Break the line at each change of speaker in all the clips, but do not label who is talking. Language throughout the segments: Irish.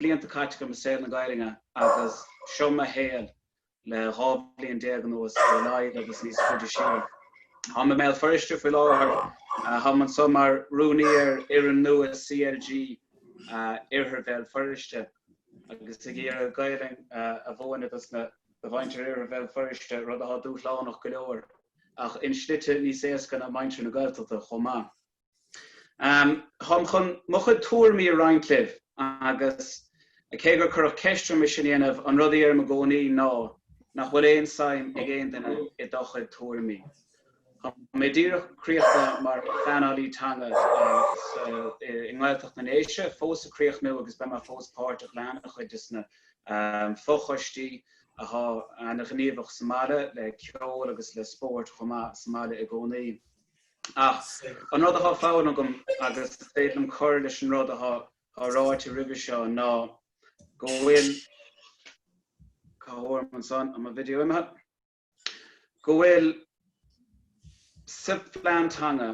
blianta caite agam i saol na Gaelainne agus seo mo shaol le dhá bhliain déag anuas ar a laghad agus níos faide siar. Táim i mBéal Feirste faoi láthair. Táim anseo mar rúnaí ar fhoireann nua CLG Iarthar Bhéal Feirste agus ag iarraidh Gaelainn a mhúineadh dos na do mhuintir Iarthar Bhéal Feirste, rud atá dúshlánach go leor ach i slite níos éasca ná muintir na Gaeltachta chomh maith. Táim chun mo chuid tuairimí a roinnt libh agus cé gur cuireadh ceist orm é sin a dhéanamh, an rud a dheirim i gcónaí ná nach bhfuil aon tsuim ag aon duine i do chuid tuairimí. Tá mé díreach críochnaithe mar Phleanálaí Teanga i nGaeltacht na nDéise, fós ag críochnú agus beidh mé fós páirteach le an-chuid de sna fochoistí atá an-ghníomhach sa mbaile le ceol agus le spórt chomh maith sa mbaile i gcónaí. Ach an rud atá fonn agam agus is féidir liom cur leis an rud atá ráite roimhe seo ná go bhfuil, cá bhfuair ansan, tá mo video imithe, go bhfuil sa phlean teanga,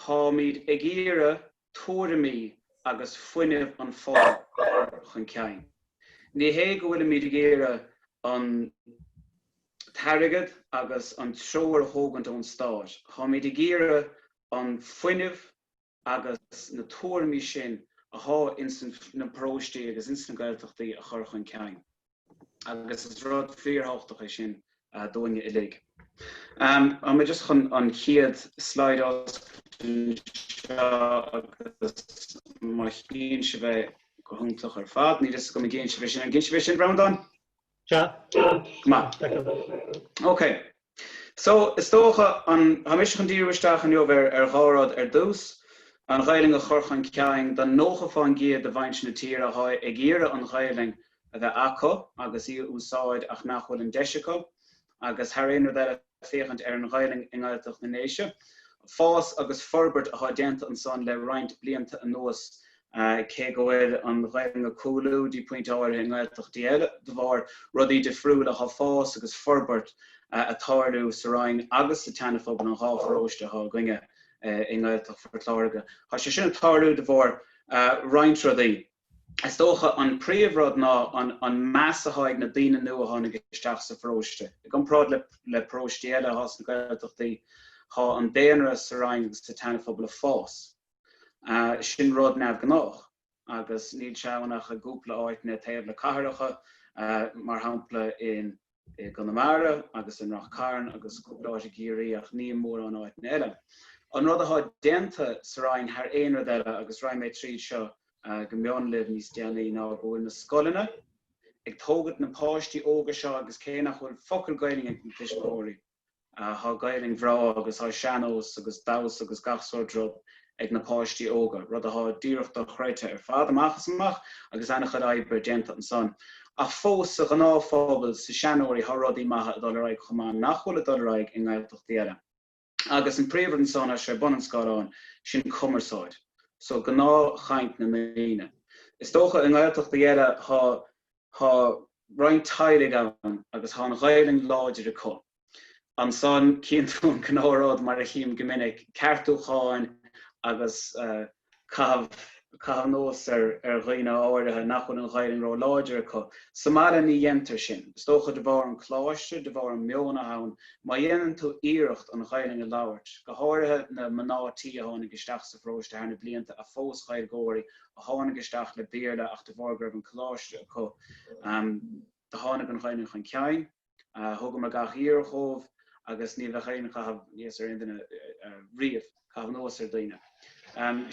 táimid ag iarraidh tuairimí agus fuinneamh an phobail a chur chun cinn. Ní hé go bhfuilimid ag iarraidh an t-airgead agus an treoir a thógaint ón stát, táimid ag iarraidh an fuinneamh agus na tuairimí sin athá ins na paróistí agus ins na Gaeltachtaí a chur chun cinn. agus is rud fíorthabhachtach é sin dúinne uilig. Tá mé just chun an chéad slide a oscailt anseo agus má chíonn sibh é go hiontach ar fad, níl a fhios agam an gcíonn sibh é sin, an gcíonn sibh é sin, Breandán? Tá. Go maith. OK. So, is dócha, an, tá mise chun díriú isteach inniu ar, ar dhá rud ar dtús, an Ghaelainn a chur chun cinn do nócha faoin gcéad de mhuintir na tíre atá ag iarraidh an Ghaelainn a bheith acu agus í a úsáid ach nach bhfuil an deis acu agus thar aon rud eile féachaint ar an Ghaelainn i nGaeltacht na nDéise, fás agus forbairt atá déanta ansan le roinnt blianta anuas Cé go bhfuil an Ghaeilge ag cúlú dtí pointe áirithe i nGaeltachtaí eile de bharr rudaí difriúla, tá fás agus forbairt ag tarlú sa Rinn agus sa tSeanphobal, an dhá pharóiste atá againne i nGaeltacht Phort Láirge. Tá sé sin ag tarlú de bharr roinnt rudaí. Is dócha an príomhrud ná an meas atá ag na daoine nua a tháinig isteach sa pharóiste. I gcomparáid le paróistí eile sna Gaeltachtaí, tá an daonra sa Rinn agus sa tSeanphobal ag fás. Sin rud neamhghnách agus níl sé ann ach i gcúpla áiteanna taobh le cathracha, mar shampla i gConamara agus in Ráth Cairn agus cúpla áit i gCiarraí ach ní mórán áiteanna eile. An rud athá déanta sa Rinn thar aon rud eile, agus raghaidh mé tríd seo go mion libh níos déanaí, ná go bhfuil na scoileanna ag tógaint na páistí óga seo agus cé nach bhfuil focal Gaelainne ag na tuismitheoirí, Athá Gaelainn bhreá agus tá sean-nós agus damhsa agus gach sórt rud ag na páistí óga, rud athá díreach dochreidthe ar fad amach is amach agus an-chuid oibre déanta ansan. Ach fós, sa ghnáthphobal, sna seanóirí, thá rudaí maithe ag dul ar aghaidh chomh maith nach bhfuil ag dul ar aghaidh i nGaeltachtaí eile. Agus an príomhrud ansan, tá sé ag bun an scáileáin, sin cumarsáid. So gnáthchaint na ndaoine. Is dócha i nGaeltachtaí eile thá. Thá roinnt teaghlaigh ann agus thá an Ghaelainn láidir acu. Ansan chíonn tú an cineál rud, mar a chím go minic, ceartúcháin agus caitheamh anuas ar dhaoine áirithe nach bhfuil an Ghaelainn ró láidir acu. Sa mbaile ní dhéantar sin. Is dócha de bharr an Coláiste, de bharr an meon athá ann. Má dhéanann tú iarracht an Ghaelainn a labhairt, go háirithe na mná tí a tháinig isteach sa pharóiste thar na blianta a phós Ghaeilgeoirí a tháinig isteach le Béarla ach de bharr go raibh an coláiste acu do tháinig an Ghaelainn chun cinn. Thugamar gach iarracht dhóibh agus ní bheadh aon chaitheamh aníos ar aon duine riamh, caitheamh anuas ar dhaoine.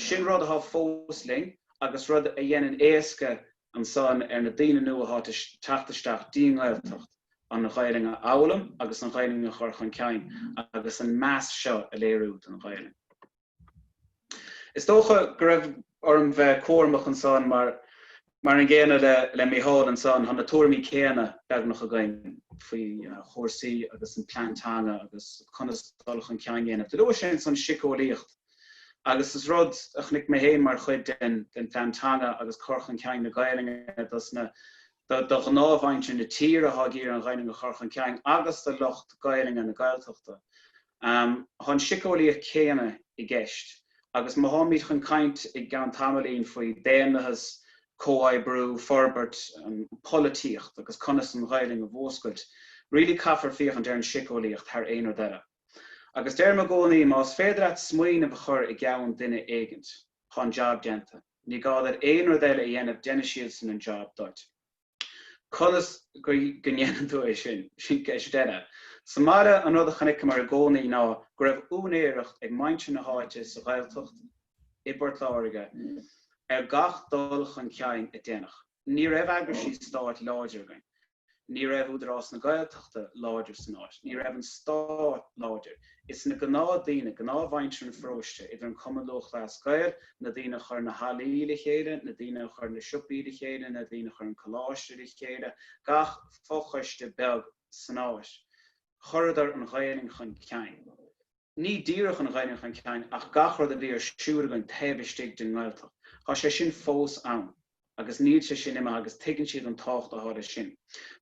Sin rud athá fós linn agus rud a dhéanann éasca ansan ar na daoine nua athá ag teacht isteach don Ghaeltacht, an Ghaelainn a fhoghlaim agus an Ghaelainn a chur chun cinn agus an meas seo a léiriú don Ghaelainn. Is dócha go raibh orm bheith cúramach ansan mar, mar an gcéanna le Micheál ansan, tá na tuairimí céanna beagnach againn faoi chúrsaí agus an plean teanga agus conas dul chun cinn a dhéanamh. Do luaigh sé ansan síceolaíocht agus is rud a chonaic mé féin mar chuid den phlean teanga agus cur chun cinn na Gaelainne dos na, do ghnáthmhuintir na tíre athá ag iarraidh an Ghaelainn a chur chun cinn agus do lucht Gaelainne na Gaeltachta. Tá an síceolaíocht chéanna i gceist agus má tháimid chun caint i gceann tamaillín faoi daonlathas, comhoibriú, forbairt, an pholaitíocht agus conas an Ghaelainn a mhúscailt, really caithfear féachaint ar an síceolaíocht thar aon rud eile. Agus deirim i gcónaí, más féidir leat smaoineamh a chur i gceann duine éigint, tá an jab déanta. Ní gá duit aon rud eile a dhéanamh, déanfaidh siadsan an jab duit. Conas go ndéanann tú é sin? Sin ceist eile. Sa mbaile, an rud a chonaiceamar i gcónaí ná go raibh úinéireacht ag muintir na háite sa Ghaeltacht i bPort Láirge ar gach dul chun cinn a déanadh. Ní raibh eagraisí stáit láidir againn. Ní raibh Údarás na Gaeltachta láidir san áit. Ní raibh an stát láidir. Is na gnáth daoine, gnáth mhuintir an pharóiste, idir an Cumann Lúthchleas Gael, na daoine a chuir na hallaí le chéile, na daoine a chuir na siopaí le chéile, na daoine a chuir an coláiste le chéile, gach fo-choiste beag san áit. Chuireadar an Ghaelainn chun cinn. Ní díreach an Ghaelainn chun cinn ach gach rud a bhí ar siúl againn taobh istigh den nGaeltacht. Tá sé sin fós ann. agus níl sé sin imithe agus tuigeann siad an tábhacht atá leis sin.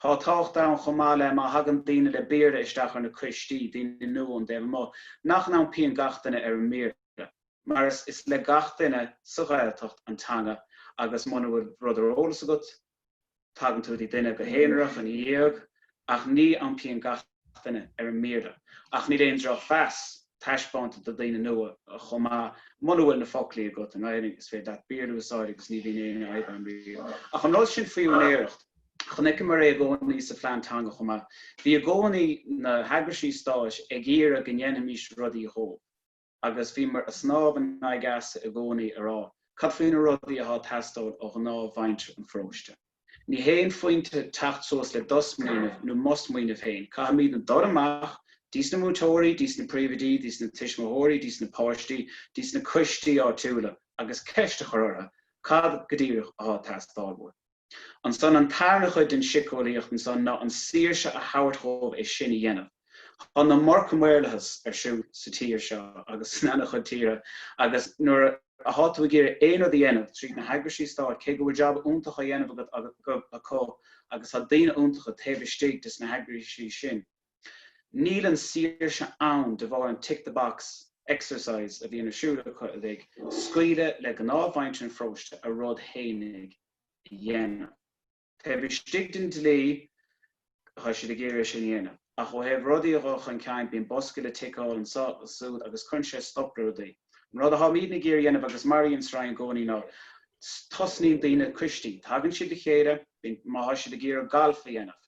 Tá tábhacht ann chomh maith le má thagann daoine le Béarla isteach ar na coistí, daoine nua ón dtaobh amuigh, nach n-iompaíonn gach duine ar an mBéarla, mar is is le gach duine sa Ghaeltacht an teanga agus muna bhfuil rud ar eolas agat, tagann tú go dtí duine go haonarach ina dhiaidh ach ní iompaíonn gach. éinne ar an mBéarla ach níl aon drochmheas taispeánta do daoine nua chomh maith. Muna bhfuil na foclaí agat i nGaelainn is féidir leat Béarla a úsáid agus ní bhíonn aon fhadhb ann riamh. Ach an rud sin faoi úinéireacht, chonaiceamar é i gcónaí sa phlean teanga chomh maith. Bhí i gcónaí na heagraisí stáit ag iarraidh go ndéanfaimís rudaí dhóibh. agus bhíomar ag snámh in aghaidh easa i gcónaí ag rá cad faoi na rudaí athá ag teastáil ó ghnáthmhuintir an pharóiste. Ní haon phointe teacht suas le do smaoineamh nó mo smaoineamh féin, caithfimidne dul amach, dtí sna múinteoirí, dtí sna príomhoidí, dtí sna tuismitheoirí, dtí sna páistí, dtí sna coistí áitiúla, agus ceist a chur orthu cad go díreach athá ag teastáil uaibh. Ansan an tarna chuid den siceolaíocht ansan ná an saoirse a thabhairt dhóibh é sin a dhéanamh. Tá an iomarca maorlathas ar siúl sa tír seo agus in ana chuid tíortha agus nuair a thá tú ag iarraidh aon rud a dhéanamh tríd na heagraisí stáit cé go bhfuil jab iontach á dhéanamh agat acu agus tá daoine iontacha taobh istigh de sna heagraisí sin Níl an saoirse ann de bharr an tick the box exercise a bhíonn ar siúl acu uilig, scaoileadh le gnáthmhuintir an pharóiste a rud fhéinig a dhéanamh. Taobh istigh den dlí tá siad ag iarraidh é sin a dhéanamh ach ó thaobh rudaí a dhul chun cinn bíonn boscaí le tickeáil anseo is ansúd agus cuireann sé stop le rudaí. An rud a tháimidne ag iarraidh a dhéanamh agus mar a bhíonn sa Rinn i gcónaí ná tosnaíonn daoine coistí, tagann siad le chéile, bíonn, má tá siad ag iarraidh galf a dhéanamh,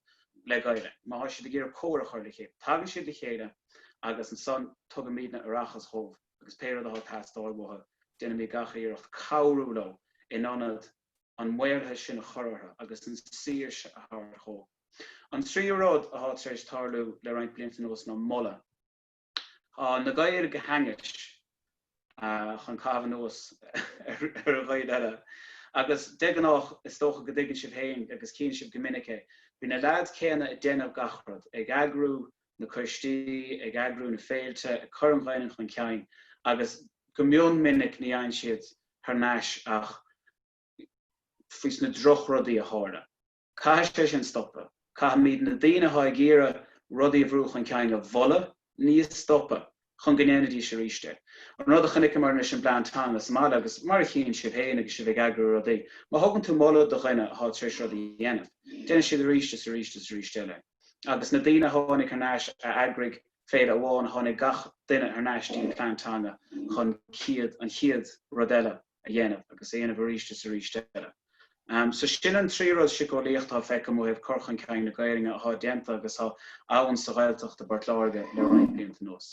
le Gaeilge. Má tá siad ag iarraidh cór a chur le chéile, tagann siad le chéile agus ansan tugaimidne aireachas dhóibh agus pé rud atá ag teastáil uathu déanaimid gach iarracht cabhrú leo in ionad an maorlathas sin a chur orthu agus an saoirse a thabhairt dhóibh. An tríú rud atá tar éis tarlú le roinnt blianta anuas ná moladh. Tá na Gaeil go hainnis chun caitheamh anuas ar Ghaeil eile. Agus de ghnáth, is dócha go dtuigeann sibh féin, agus tchíonn sibh go minic é, bhí na leaids céanna ag déanamh gach rud, ag eagrú na coistí, ag eagrú na féilte, ag cur an Ghaelainn chun cinn agus go mion minic ní fhaigheann siad thar n-ais ach faoi sna drochrudaí a tharla. Caithfidh sé sin stopadh. Caithfimid na daoine atá ag iarraidh rudaí a bhrú chun cinn a mholadh, ní a stopadh, chun go ndéanfaidís arís é. An rud a chonaiceamar anois an plean teanga sa mbaile agus mar a chíonn sibh féin agus sibh ag eagrú rudaí, má thugann tú moladh do dhuine atá tar éis rud a dhéanamh, déanann siad arís is arís is arís eile é. Agus na daoine a tháinig thar n-ais a eagraigh féile amháin, tháinig gach duine thar n-ais, dtí an plean teanga chun chéad, an chéad rud eile. a dhéanamh agus a dhéanamh arís is arís eile. So sin an trí rud siceolaíoch atá feicthe agam ó thaobh cur chun cinn na Gaelainne atá déanta agus atá ann sa Ghaeltacht i bPort Láirge le roinnt blianta anuas.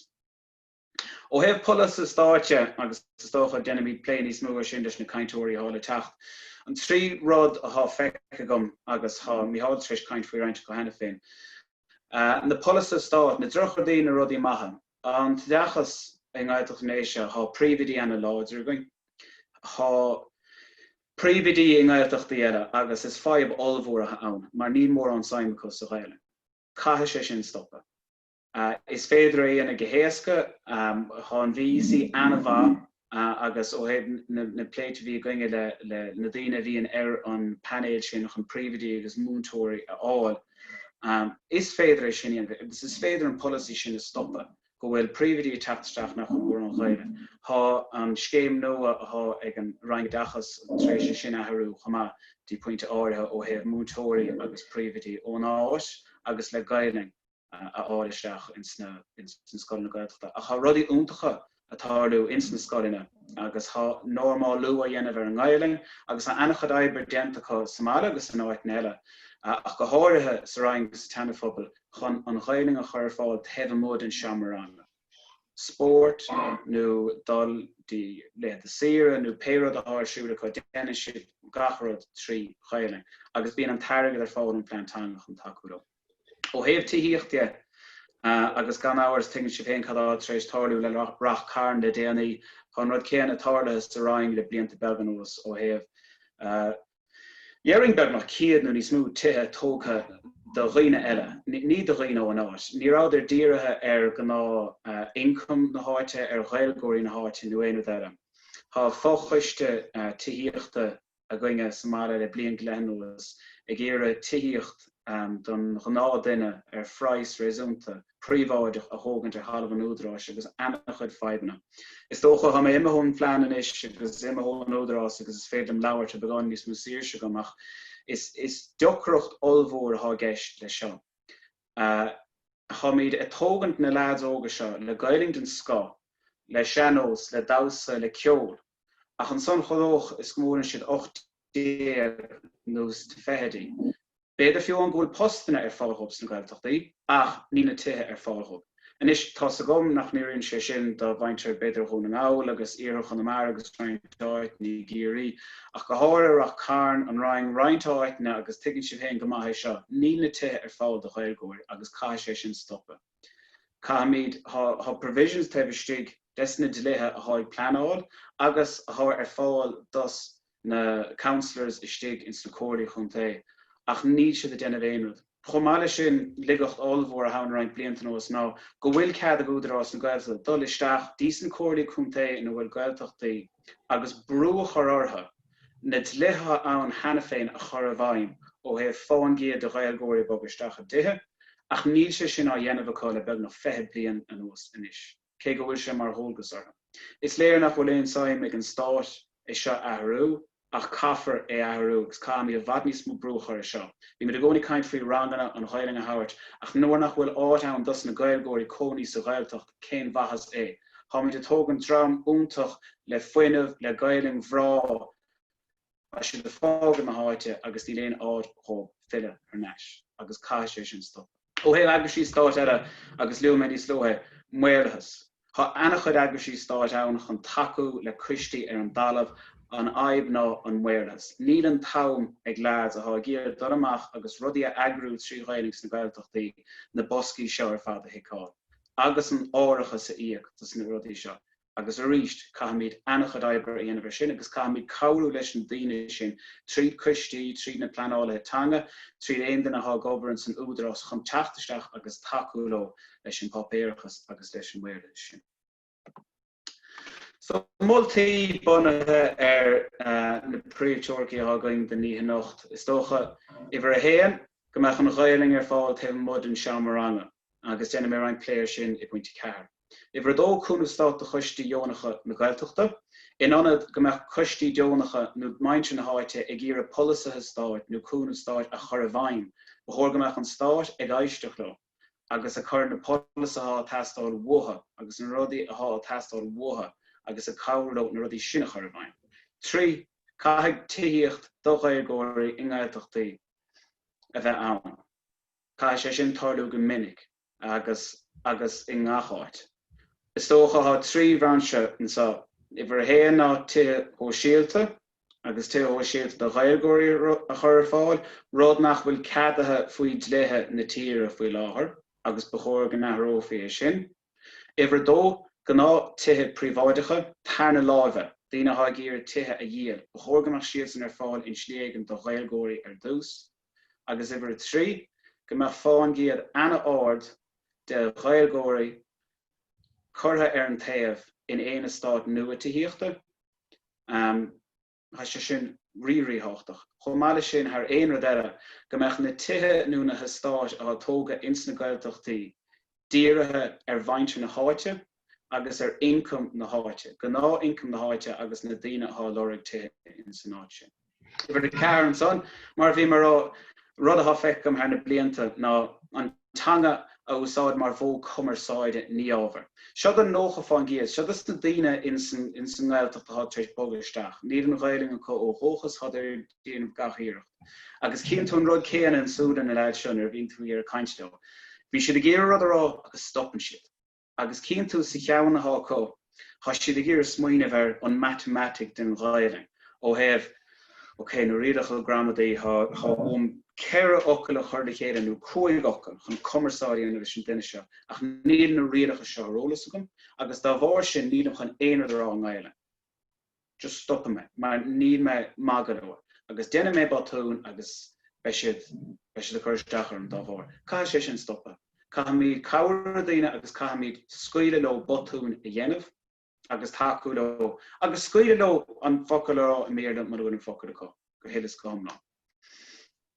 Ó thaobh polasaithe stáit agus is dócha déanfaimid plé níos mó ar sin leis na cainteoirí atá le teacht, an trí rud atá feicthe agam agus tá Micheál tar éis caint faoi roinnt acu cheana féin. Na polasaithe stáit, na drochrudaí, na rudaí maithe. An t-oideachas i nGaeltacht na nDéise, tá príomhoidí ana láidir againn, tá príomhoidí i nGaeltachtaí eile agus is fadhb ollmhór atá ann mar níl mórán suim acu sa Ghaelainn. Caithfidh sé sin stopadh. Is féidir é a dhéanamh go héasca, tá an VEC ana mhaith. agus ó thaobh na plé a bhí againne le na daoine a bhíonn ar an bpainéal sin chun príomhoidí agus múinteoirí a fháil, is féidir é sin a dhéanamh agus is féidir an polasaí sin a stopadh go bhfuil príomhoidí ag teacht isteach nach bhfuil mórán Gaelainne. Tá an scéim nua atá ag an Roinn Oideachais tar éis é sin a athrú chomh maith dtí pointe áirithe ó thaobh múinteoirí agus príomhoidí ón áit agus le Gaelainn. a fháil isteach ins na scoileanna Gaeltachta. Ach tá rudaí iontacha ag tarlú ins na scoileanna agus tá normálú á dhéanamh ar an nGaelainn agus tá an-chuid oibre déanta acu sa mbaile agus in áiteanna eile, ach go háirithe sa Rinn agus sa tSeanaphobal, chun an Ghaelainn a chur ar fáil taobh amuigh den seomra ranga. Spórt nó dul de laethanta saoire nó pé rud atá ar siúl acu, déanann siad gach rud trí Ghaelainn agus bíonn an t-airgead ar fáil ón Phlean Teanga chun tacú leo. Ó thaobh tithíocht dhe, agus gan amhras tuigeann sibh féin cad atá tar éis tarlú le Ráth Chairn le déanaí, tá an rud céanna tarlaithe sa Rinn le blianta beaga anuas ó thaobh léiríonn beagnach 100 nó níos mó tithe tógtha do dhaoine eile, ní do dhaoine ó an áit. Ní rabhadar dírithe ar gnáth ioncam na háite, ar Ghaeilgeoirí na háite nó aon rud eile. Tá fochoiste tithíochta againn sa mbaile le bliain go leith anuas ag iarraidh tithíocht don ghnáth duine ar phraghas réasúnta, príobháideach a thógaint ar thalamh an Údaráis agus ana chuid fadhbanna. Is dócha, tá mé imithe ón phlean anois agus imithe ón Údarás agus is féidir liom labhairt le beagán níos mó saoirse agam ach is deacracht ollmhór atá i gceist leis seo. Tháimid ag tógaint na leaids óga seo le Gaelainn den scoth, le sean-nós, le damhsa, le ceol, ach ansan chomh luath is go mbuaileann siad ocht déag nó sna fichidí, b'fhéidir fiú amháin go bhfuil postanna ar fáil dóibh sna Gaeltachtaí ach níl na tithe ar fáil dóibh. Anois, tá's agam nach n-éiríonn sé sin do mhuintir b'fhéidir Dhún na nGall agus iarthar Chonamara agus roinnt áit i gCiarraí, ach go háirithe Rath Cairn, An Rinn, roinnt áiteanna agus tuigeann sibh féin go maith é seo, níl na tithe ar fáil do Ghaeilgeoirí agus caithfidh sé sin stopadh. Caithfimid, tá, tá provisions taobh istigh des na dlíthe athá ag pleanáil agus athá ar fáil dos na councillors istigh ins na comhairlí chontae ach níl siad ag déanamh aon rud. Chomh maith leis sin, laigeacht ollmhór athá ann roinnt blianta anuas ná go bhfuil cead ag Údarás na Gaeltachta dul isteach dtí's na comhairlí contae ina bhfuil Gaeltachtaí agus brú a chur orthu na dlíthe atá ann cheana féin a chur i bhfeidhm ó thaobh faoin gcéad de Ghaeilgeoirí a bhogadh isteach i dtithe ach níl sé sin á dhéanamh acu le beagnach 20 bliain anuas anois. cé go bhfuil sé mar dhualgas orthu. Is léir nach bhfuil aon tsuim ag an stát é seo a athrú ach caithfear é a athrú agus caithfimid i bhfad níos mó brú a chur ar seo. Bímid i gcónaí ag caint faoi ranganna, an Ghaelainn a thabhairt, ach nuair nach bhfuil áit ann dosna Gaeilgeoirí cónaí sa Ghaeltacht cén mhaitheas é? Tháimid ag tógaint dream iontach le fuinneamh, le Gaelainn bhreá, Tá siad ag fágáil na háite agus níl aon áit acu chun filleadh thar n-ais agus caithfidh sé sin stopadh. Ó thaobh eagraisíochtaí eile, agus luaigh mé níos luaithe, maorlathas. Thá ana-chuid eagraisí stáit ann chun tacú le coistí ar an dtalamh, an fhadhb ná an maorlathas. Níl an t-am ag leaids athá ag iarraidh dul amach agus rudaí a eagrú trí Ghaelainn sna Gaeltachtaí na boscaí seo ar fad a thiceáil agus an t-árachas a íoc dos na rudaí seo. agus arís caithfimid an-chuid oibre a dhéanamh ar sin agus caithfimid cabhrú leis na daoine sin tríd coistí, tríd na pleanálaithe teanga, tríd aon duine athá ag obair insan Údarás chun teacht isteach agus tacú leo leis an bpáipéarachas agus leis an Maorlathas sin. So, moltaí bunaithe ar na príomhteoiricí athá againn don oíche anocht, is dócha, uimhir a haon, go mbeadh an Ghaelainn ar fáil taobh amuigh den seomra ranga agus déanfaidh mé roinnt plé ar sin i bpointe ceathair. Uimhir a dó, cúnamh stáit do choistí dheonacha na Gaeltachta. In ionad go mbeadh coistí deonacha nó muintir na háite ag iarraidh polasaithe stáit nó cúnamh stáit a chur i bhfeidhm, ba chóir go mbeadh an stát ag éisteacht leo agus ag cur na polasaithe athá ag teastáil uathu agus na rudaí athá ag teastáil uathu agus ag cabhrú leo na rudaí sin a chur i bhfeidhm. Trí, caithfidh tithíocht do Ghaeilgeoirí i nGaeltachtaí a bheith ann. Caithfidh sé sin tarlú go minic. agus agus i ngach áit. Is dócha thá trí bhrainse anseo, uimhir a haon ná tithe shóisialta agus tithe shóisialta do Ghaeilgeoirí a chur ar fáil, rud nach bhfuil ceadaithe faoi dhlíthe na tíre faoi láthair agus ba chóir go n-athrófaí é sin. Uimhir a dó, gnáth tithe príobháideacha, tarna láimhe, daoine athá ag iarraidh tithe a dhíol, ba chóir go mbeadh siadsan ar fáil i slí éigin do Ghaeilgeoirí ar dtús. agus uimhir a trí, go mbeadh fán gcéad ana-ard de Ghaeilgeoirí curtha ar an taobh in aon eastát nua Tithíochta. Tá sé sin rí-ríthábhachtach. Chomh maith leis sin, thar aon rud eile, go mbeadh na tithe nó na heastáit atá tógtha ins na Gaeltachtaí dírithe ar mhuintir na háite, agus ar ioncam na háite, gnáth ioncam na háite agus na daoine athá lorg tithe ins an áit sin. Uimhir a ceathair ansan, mar a bhí mé rá, rud athá feicthe agam thar na blianta ná an teanga a úsáid mar mhodh cumarsáide, ní ábhar. Seo don nócha fán gcéad, seo dos na daoine ins an nGaeltacht athá tar éis bogadh isteach, níl an Ghaelainn acu ó dhúchas, athá tar éis déanamh gach iarracht. Agus cíonn tú an rud céanna ins súile na leaids seo nuair a bhíonn tú ag iarraidh caint leo. Bíonn siad ag iarraidh rud a rá agus stopann siad. Agus cíonn tú sa cheann atá acu? Tá siad ag iarraidh smaoineamh ar an matamaitic den Ghaelainn ó thaobh, OK, na rialacha gramadaí, tá uaim ceithre fhocal a chur le chéile nó cúig fhocal chun cumarsáid a dhéanamh leis an duine seo ach níl na rialacha seo ar eolas agam agus dá bharr sin nílim chun aon rud a rá i nGaelainn. just stopann mé mar níl mé maith go leor agus déanfaidh mé botún agus beidh siad, beidh siad ag cur isteach orm dá bharr. Caithfidh sé sin stopadh. Caithfimid cabhrú le daoine agus caithfimid scaoileadh leo botúin a dhéanamh agus tacú leo agus scaoileadh leo an focal a rá i mBéarla mura bhfuil an focal acu go huile is go hiomlán.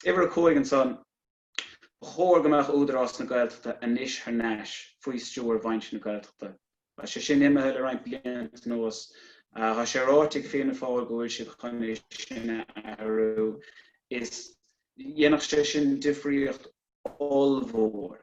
Uimhir a cúig ansan. Ba chóir go mbeadh Údarás na Gaeltachta anois thar n-ais faoi stiúir mhuintir na Gaeltachta. Tá sé sin imithe le roinnt blianta anuas. Tá sé ráite ag Fianna Fáil go bhfuil siad chun é sin a athrú is dhéanfadh sé sin difríocht ollmhór.